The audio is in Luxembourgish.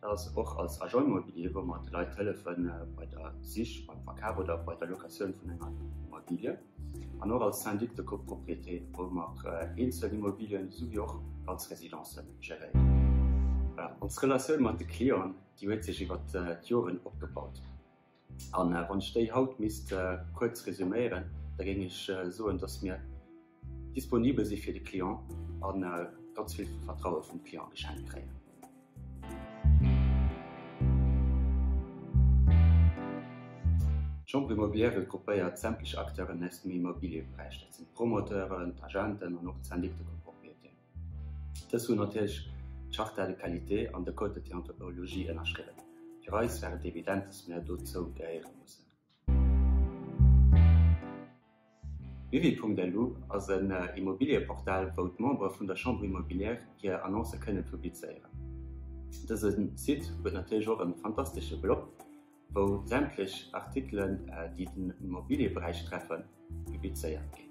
Dat ass och als Agent immobilier, wou mer de Leit hëllefe bei der Sich, beim Verkaf oder bei der Locatioun vun enger Immobilie. An och als Syndic de copropriété, wou mer eenzel Immobilien esouwéi och ganz Residencen geréieren. Ons Relatioun mat de Clienten, déi huet sech iwwert d'Joren opgebaut. An wann ech déi haut misst kuerz resuméieren, da géing ech soen, dass mir disponibel si fir de Client a ganz vill Vertraue vum Client geschenkt kréien. D'Chambre immobilière regroupéiert sämtlech Acteuren aus dem Immobiliëberäich, dat sinn d'Promoteuren, d'Agenten an och d'Syndic de copropriété. Dës hunn natierlech d'Charta de qualité an de Code de déontologie ënnerschriwwen. Fir eis war et evident, dass mir dozou gehéiere mussen. Wiwi.lu ass en Immobilieportal, wou d'Membere vun der Chambre immobilière hir Annoncë kënnen publizéieren. Dëse Site huet natierlech och e fantastesche Blog, wou sämtlech Artikelen, déi den Immobilieberäich treffen, publizéiert ginn.